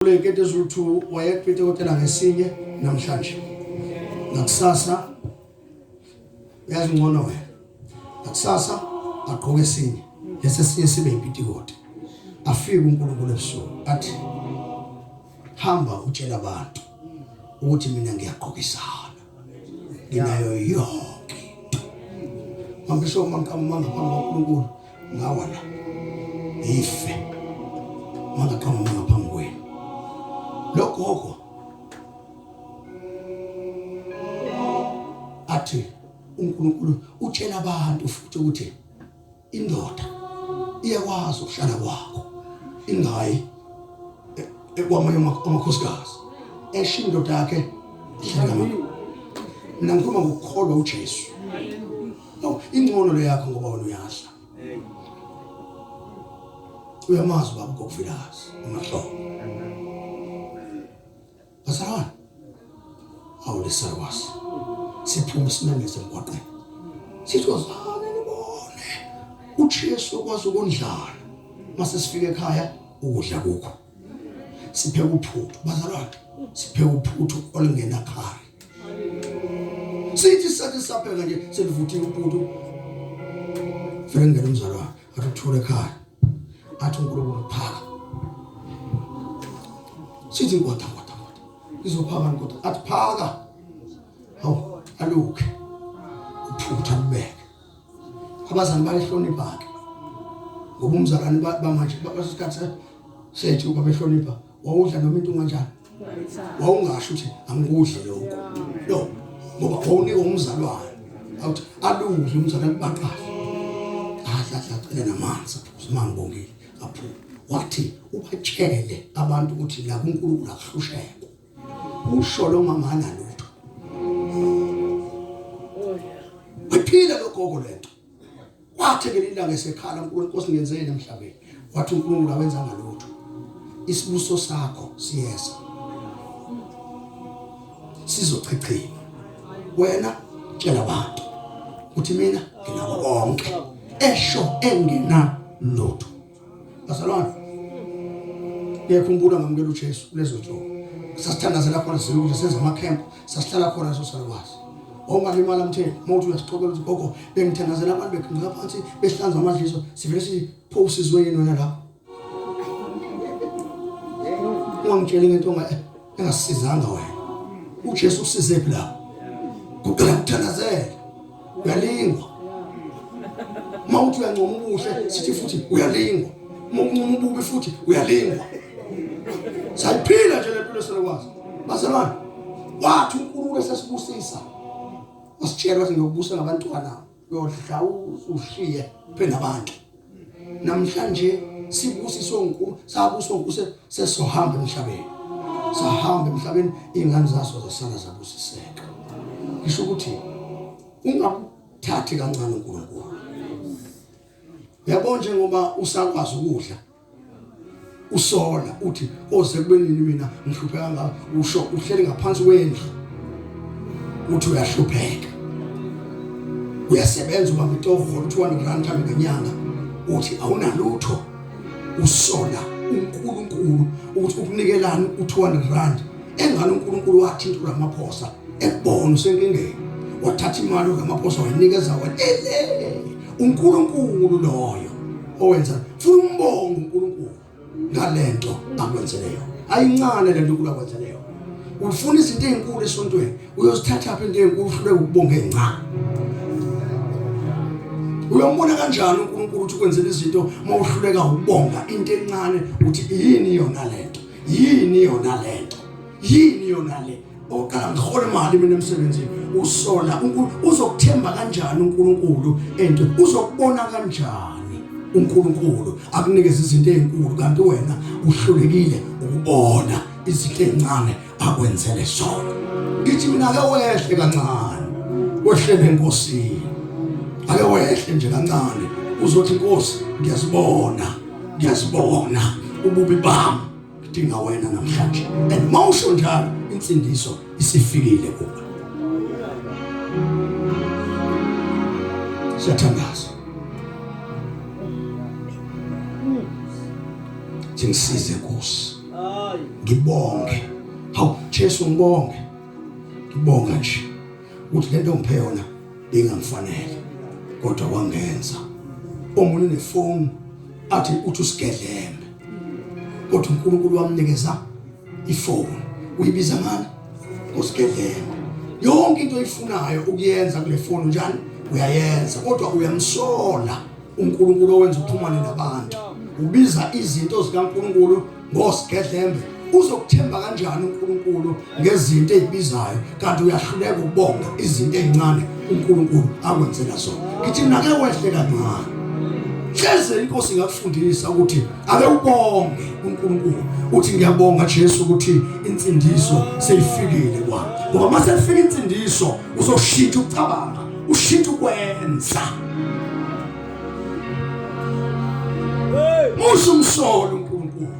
Kule nkete Zulu 2 wayekupite kotela ngesinye namhlanje. Nakusasa uyazi ngcono wena. Nakusasa agqoke esinye. Lesi sinye sibe impitikote. Afike uNkulunkulu ebusuku athi hamba utshela abantu ukuthi mina ngiyagqokisana. nginayo yonke into mangisho uma ngiqamanga phambi kwaNkulunkulu ngawa la ngife mangaqamanga ngaphambi kwenu logogo athi uNkulunkulu utshela abantu futhi ukuthi Indoda iyakwazi ukuhlala kwakho ingayi e- ekwamanye ama- amakhosikazi esho indoda yakhe ihlala kamama mina ngikhuluma ngokukholwa ujesu no ingcono le yakho ngoba wena uyadla uyamazi ubaba kokuvilazi umahlobo Asawona. Awulisa was. Siphuma simemeze emgwaqeni. Sithi wazana nibone. UJesu okwazi ukondlala. Mase sifike ekhaya ukudla kukho. Sipheke uphuthu bazalwane. Sipheke uphuthu olingena khaya. Sithi sathi sapheka nje selivuthiwe uphuthu. Fika ngene umzalwane. Akuthule ekhaya. Athi uNkulunkulu uphaka. Sithi inkoda kodwa kodwa. Izophaka inkoda athi phaka. Hawu aluke. Uphutha kubeke. Abazali bayihlonipha ke. Ngoba umzalwane bamanje basikhathe sethu babehlonipha wawudla noma into unganjani wawungasho ukuthi angikudle lokho no ngoba wawunika umzalwane awuthi aludle umzalwane baqashe adla adla cele namanzi simangibongile aphuma wathi ubatshele abantu ukuthi la kuNkulunkulu akuhlushekwa usho lo mama analutho waphila logogo lento kwathi ngelinye ilanga esekhala uNkulunkulu Nkosi ngenzeni emhlabeni wathi uNkulunkulu awenza ngalutho isibuso sakho siyeza sizochichima wena tshela abantu ukuthi mina nginako konke esho engena lutho Bazalwane. Ngiyakhumbula ngamukela uJesu kulezo nsuku. Sasithandazela khona siyokuthi senza ama camp, sasihlala khona sosalwazi. ongalimala mtheni uma uthi uyasixoxela ukuthi gogo bengithandazela abantu begqinqa phansi behlanza amadliso sivele sipho usizwe yini wena lapho ungangitsheli ngento engasizanga wena uJesu usizephi la kuqala kuthandazela uyalingwa uma uthi uyancoma ubuhle sithi futhi uyalingwa uma uncoma ububi futhi uyalingwa sayiphila nje le mpilo selokwazi bazalwane wathi uNkulunkulu esesibusisa wasitshela ukuthi ngiyokubusa ngabantwana uyodla ushiye phela abantu namhlanje sibusiswe uNkulunkulu sabuswa uNkulunkulu sesohamba emhlabeni sahamba emhlabeni ingane zaso zasala zabusiseka ngisho ukuthi ungamthathi kancane uNkulunkulu yabo njengoba usakwazi ukudla usola uthi oze oh, kubenini mina ngihlupheka ngaka usho uhleli ngaphansi kwendlu uthi uyahlupheka uyasebenza ubamba itovu for 200 rand kami ngenyanga uthi awunalutho usola uNkulunkulu ukuthi ukunikelani u200 rand engalo uNkulunkulu wathinta uRamaphosa ebona usenkingeni wathatha imali uRamaphosa wayinikeza wena ele uNkulunkulu loyo owenza funa umbongo uNkulunkulu ngalento akwenzele yona ayincane lento uNkulunkulu akwenzele yona ufuna izinto ezinkulu esontweni uyozithatha phi into ezinkulu uhlule ukubonga ezincane uyombona kanjani uNkulunkulu ukuthi kwenzela izinto uma uhluleka ukubonga into encane uthi yini yona lento yini yona lento yini yona le oqala ngihole imali mina emsebenzini usola uzokuthemba kanjani uNkulunkulu and uzokubona kanjani uNkulunkulu akunikeza izinto ezinkulu kanti wena uhlulekile ukubona izinto ezincane akwenzele zona ngithi mina ake wehle kancane wehlele enkosini ake wehle nje kancane uzothi inkosi ngiyazibona ngiyazibona ububi bami ngidinga wena namhlanje and mawusho njalo insindiso isifikile kuwe siyathandaza ngisize Nkosi ngibonge hawu Jesu ngibonge ngibonga nje ukuthi lento ngiphe yona bengamfanele kodwa wangenza omunye nefoni athi uthi usigelembe kodwa uNkulunkulu wamnikeza ifoni uyibiza ngani usigebengu yonke into oyifunayo ukuyenza kule foni njani uyayenza kodwa uyamsola uNkulunkulu owenza uxhumane nabantu ubiza izinto zikaNkulunkulu ngosigedlembe uzokuthemba kanjani uNkulunkulu ngezinto ezibizayo kanti uyahluleka ukubonga izinto ezincane uNkulunkulu akwenzela zona ngithi nake wehle kancane hleze inkosi ingakufundisa ukuthi ake ubonge uNkulunkulu uthi ngiyabonga Jesu ukuthi insindiso seyifikile kwa ngoba mase kufika insindiso uzoshintsha ukucabanga ushintsha ukwenza hey musho umsolo